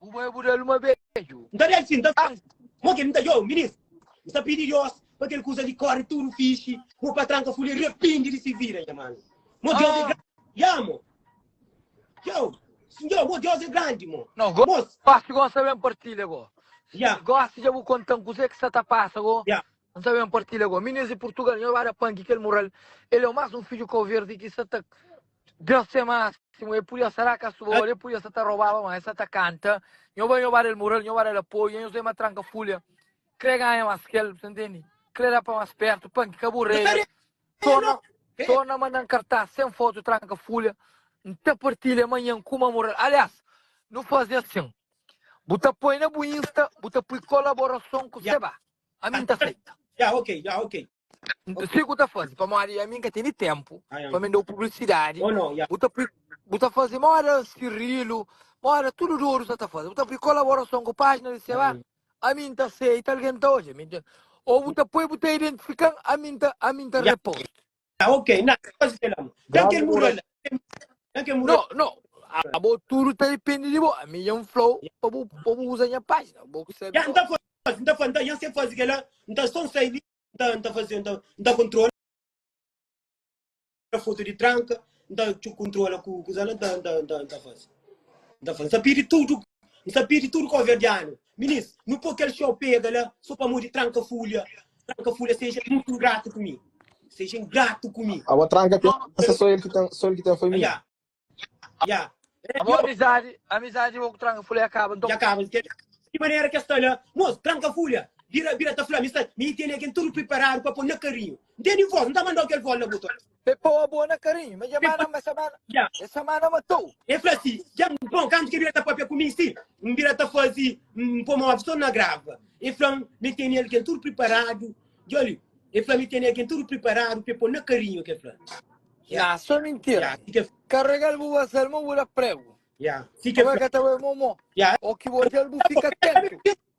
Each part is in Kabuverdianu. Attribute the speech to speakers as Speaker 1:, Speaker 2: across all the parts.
Speaker 1: Bu bai bu dal uma beju. N ta dal si n ta faz
Speaker 2: mo ke n ta djobe ministru. N ta pidi Dios pa kel kusa li kore tudu fixi, pa bu patran ka fuli arepindi di si vida. Nha manu, mo Dios e grandi. Ya mo. Txeu. Sinhor, mo Dios e grandi mo. No, go, Mos. gosi
Speaker 1: gosta ben partilha go. Ya. Gosi dja bu kontan kuze ki sa ta pasa go. Ya. N ta ben partilha go. Minês di Purtugal, Nhô Bada Pan ki kel mural El é o más un fidju kau-verdi ki sa ta Danse másimu E pudia sa da kasbol E pudia sa ta robaba ma E sa ta kanta Nhô ba nhô bada el mural Nhô bada el apoia Nhô zema tranka fulha Kre ganha más kel Sa ntendi Kre da pa más pertu Pan ki ka bu rega Torna Torna mandan kartas Sen fotu tranka fulha N ta partilha manhan kuma mural Aliás Nu faze asin Bu ta poi na bu insta Bu ta pui kolaborason ku seba ami n ta seita. Ya ok,
Speaker 2: ya ok. Si ku
Speaker 1: ta fazi, pamodi ami n ka tene ténpu Ai, ai. pa mi da-u publisidadi. Oh, no, ya. Bu ta pui, bu ta fazi moda sirrilu, moda tudu dodu sa ta fazi. Bu ta pui kolaborason ku pájina di Seba, Ai. ami n ta seita, algen ta odja mi. Ô bu ta pui, bu ta identifika-m, ami n ta, ami n ta Ai. repost. Ah, ok, na,
Speaker 2: fazi kel amo. Dan Grande kel muro oração. la. Dan
Speaker 1: kel muro Não, la. não. A bo tudo tá depende de bo. A mim é um flow para bo, para bo usar minha página. Bo que sabe. Ya, só. nta
Speaker 2: fazi, nta fazi, nta, yan se fazi kel la, nta só sai li, nta, nta fazi, nta, nta kontrola foto de tranka, nta txu kontrola ku, ku zala, nta, nta, nta, nta fazi. Nta fazi, nta pidi tudo, nta pidi tudo koverdiano, Minis, nu pô kel xou pega la so pamodi tranka fulha. Tranka fulha seja mutu ingratu ku mi. Seja ingratu ku mi. Abo tranka pensa
Speaker 3: so el ki ten so el ki ten famia. Ya. Ya. Abo Yo,
Speaker 1: amizadi, amizadi bo ku tranka fulha ya kaba nton. ya kaba
Speaker 2: kel di manera ki el sta la. Mos, tranka fulha bira bira ta fla mi sta mi tene ken tudu priparadu pa pô na karinhu. N tene vos, N ta manda-u kel vos la bu ta. Pe pau a bô na
Speaker 1: karinhu. Mas dja Pe mana, ma samana. Ya. E samana matou. E fla si, dja
Speaker 2: N pon, kantu ki bira ta pâpia ku mi si, N bira ta fazi, N pô móvel sô na grava. E fla-m, mi tene algen tudu priparadu, djoli, e fla mi tene algen tudu priparadu pe pô na karinhu, ke fla. Ya, sô
Speaker 1: mintira. Ya, si ke. Karrega-l bu basa-l, ma bu da pregu. Ya, si ke Abo e fla. ka
Speaker 2: ta bai momó.
Speaker 1: Ya. Oki bo odja-l bu fika atentu.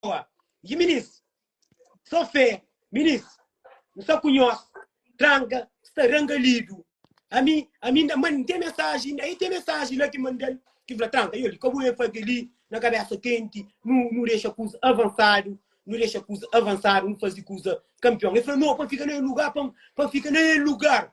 Speaker 2: Lisboa. Dji minis, so fé, minis, N sa ku nhos tranka sta ranga lidu. Ami, ami inda man, N ten mensaji, inda e ten mensaji la ki manda-l, ki fla tranka yo li, ka bu ben fla kel-li na kabésa kenti, nu, nu dexa kuza avansadu, nu dexa kuza avansadu, nu faze kuza kanpion. El fla no, pa N fika na e lugar, pa N, pa N fika na e lugar,